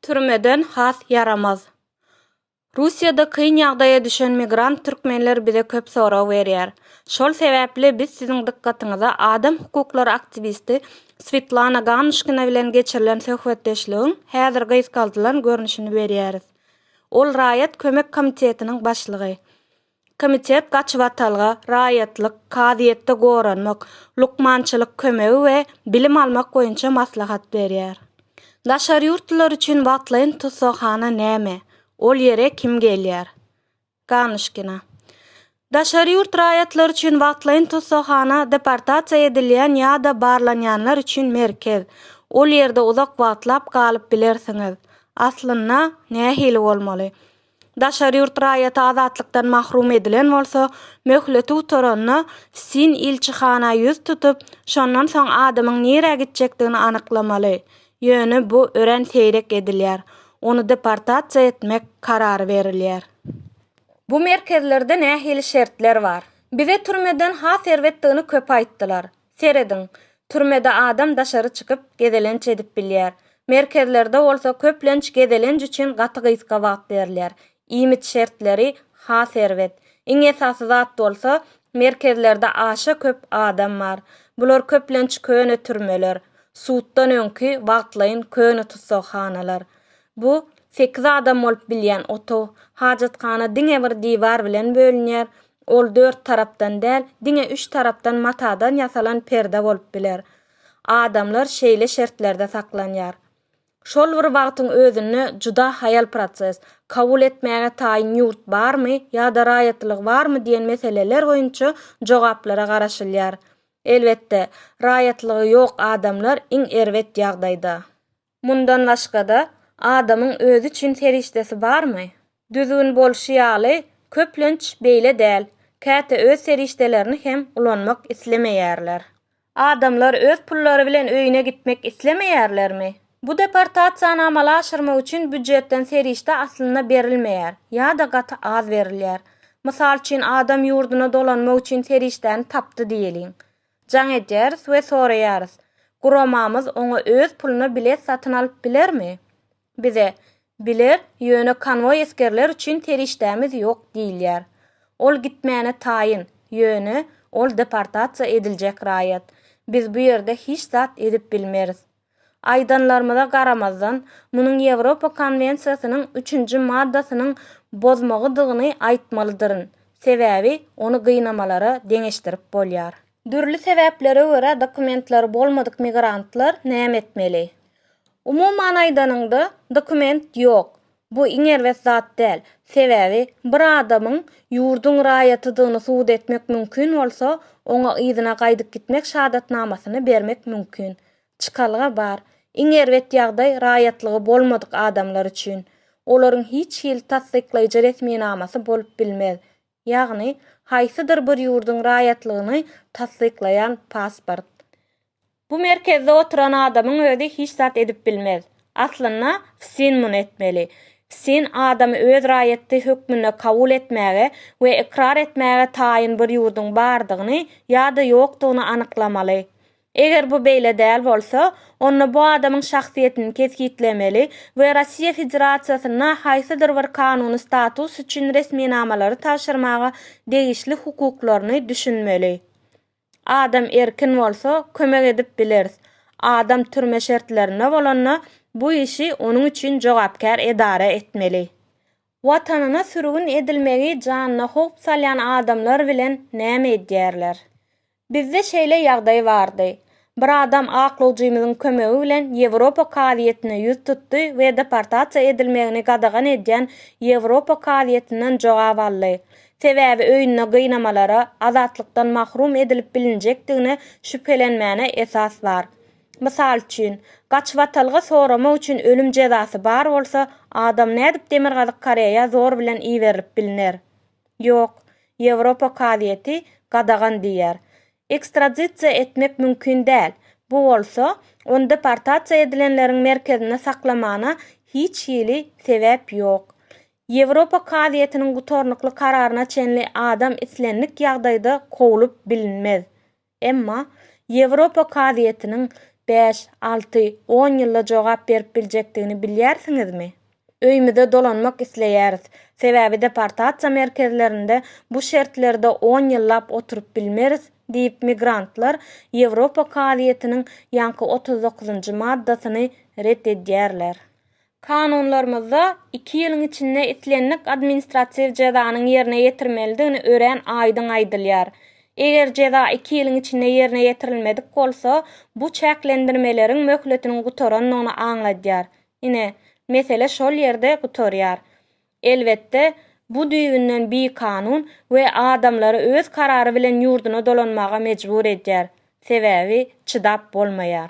Türmeden has ýaramaz. Russiýada kyn ýagdaýa düşen migrant türkmenler bize köp sorag berýär. Şol sebäpli biz siziň dykgatyňyza adam hukuklary aktiwisti Swetlana Ganuşkina bilen geçirilen söhbetdeşligiň häzir gysgaldylan görnüşini berýäris. Ol Raýat kömek komitetiniň başlygy. Komitet gaçybatalga raýatlyk, kazyýetde goranmak, lukmançylyk kömegi we bilim almak boýunça maslahat berýär. Daşary ýurtlular üçin wagtlaýyn tussaghana näme? Ol ýere kim gelýär? Ganuşkina. Daşary ýurt raýatlary üçin wagtlaýyn tussaghana deportasiýa edilýän ýa-da barlanýanlar üçin merkez. Ol ýerde uzak wagtlap galyp bilersiňiz. Aslynda, nähili bolmaly? Daşary ýurt raýaty azatlykdan mahrum edilen bolsa, möhleti gutaranda, sin ilçihana ýüz tutup, şondan soň adamyň nirä gitjekdigini anyklamaly. Ýöne bu örän seýrek edilýär. Ony deportasiýa etmek karary berilýär. Bu merkezlerde nähili şertler bar? Bize türmeden has erbetdigini köp aýtdylar. Serediň, türmede adam daşary çykyp, gezelenç edip bilýär. Merkezlerde bolsa köplenç gezelenç üçin gaty gysga wagt berilýär. Iýmit şertleri has erbet. Iň esasy zat bolsa, merkezlerde aşa köp adam bar. Bular köplenç köne türmeler, suddan öňki wagtlaýyn köne tussaghanalar. Bu, sekiz adam bolup bilýän otag. Hajathana diňe bir diwar bilen bölünýär, Ol dört tarapdan däl, diňe üç tarapdan matadan ýasalan perde bolup biler. Adamlar şeýle şertlerde saklanýar. Şol bir wagtyň özünde juda haýal proses. Kabul etmäge taýyn ýurt barmy ýa-da raýatlyk barmy diýen meseleler boýunça jogaplara garaşylýar. Elbetde, raýatlygy ýok adamlar iň erbet ýagdaýda. Mundan başga-da, adamyň özi üçin serişdesi barmy? Düzgün bolşy ýaly, köplenç beýle däl, käte öz serişdelerini hem ulanmak islemeýärler. Adamlar öz pullary bilen öýüne gitmek islemeýärlermi? Bu deportasiýany amala aşyrmak üçin býujetden serişde aslynda berilmeýär ýa-da gaty az berilýär. Mysal üçin, adam ýurduna dolanmak üçin serişdäni tapdy diýeliň. Jaň edýäris we soraýarys, Guramamyz oňa öz puluna bilet satyn alyp bilermi? Bize, Biler, ýöne konwoý esgerler üçin serişdämiz ýok diýilýär. Ol gitmäne taýyn, ýöne ol deportasiýa ediljek raýat. Biz bu ýerde hiç zat edip bilmeris. Aýdanlarymyza garamazdan, munuň Ýewropa konwensiýasynyň üçünji maddasynyň bozmagydygyny aýtmalydyryn, sebäbi ony gynamalara deňeşdirip bolýar. Dürli sebäplere görä dokumentleri bolmadyk migrantlar näme etmeli? Umuman aýdanyňda, dokument ýok, Bu iň erbet zat däl. Sebäbi, bir adamyň ýurduň raýatydygyny subut etmek mümkin bolsa, oňa yzyna gaýdyp gitmek şahadatnamasyny bermek mümkin. Çykalga bar. Iň erbet ýagdaý raýatlygy bolmadyk adamlar üçin. Olaryň hiç hili tassyklaýjy resminamasy bolup bilmez. ýagny haýsydyr bir ýurduň raýatlygyny tassyklaýan pasport. Bu merkezde oturan adamyň özi hiç zat edip bilmez. Aslynda, FSİN muny etmeli. FSİN adamy öz raýaty hökmünde kabul etmäge we ykrar etmäge taýyn bir ýurduň bardygyny ýa-da ýokdugyny anyklamaly. Eger bu beýle däl bolsa, onda bu adamyň şahsyýetini kesgitlemeli we Russiýa Federasiýasyna haýsydyr bir kanuny status üçin resminamalary tabşyrmaga degişli hukuklaryny düşünmeli. Adam erkin bolsa, kömek edip bileris. Adam türme şertlerinde bolanda, bu işi onuň üçin jogapkär edara etmeli. Watanyna sürgün edilmegi janyna howp salýan adamlar bilen näme edýärler? Bizde şeýle ýagdaý bardy. Bir adam aklawjymyzyň kömegi bilen Ýewropa kazyýetine ýüz tutdy we deportasiýa edilmegini gadagan edýän Ýewropa kazyýetinden jogap aldy. Sebäbi öýünde gynamalara, azatlykdan mahrum edilip bilinjekdigine şübhelenmäne esas bar. Mysal üçin, gaçybatalga soramak üçin ölüm jezasy bar bolsa, adam nädip Demirgazyk Koreýa zor bilen iberilip bilner? Ýok, Ýewropa kazyýeti gadagan diýýär. Ekstradisiýa etmek mümkin däl. Bu bolsa, ony deportasiýa edilenleriň merkezinde saklamana hiç hili sebäp ýok. Ýewropa kazyýetiniň gutarnykly kararyna çenli adam islendik ýagdaýda kowlup bilinmez. Emma Ýewropa kazyýetiniň bäş, alty, on ýylda jogap berip biljekdigini bilýärsiňizmi? Öýümize dolanmak isleýäris, sebäbi deportasiýa merkezlerinde bu şertlerde on ýyllap oturyp bilmeris diýip migrantlar Ýewropa kazyýetiniň ýaňky otuz dokuzynjy maddasyny ret edýärler. Kanunlarymyzda iki ýylyň içinde islendik administratiw jezanyň ýerine ýetirmelidigini örän aýdyň aýdylýar. Eger jeza iki ýylyň içinde ýerine ýetirilmedik bolsa, bu çäklendirmeleriň möhletiniň gutarandygyny aňladýar. Ine, mesele şol ýerde gutarýar. Elbetde, bu düýbünden bikanun we adamlary öz karary bilen ýurduna dolanmaga mejbur edýär. Sebäbi çydap bolmaýar.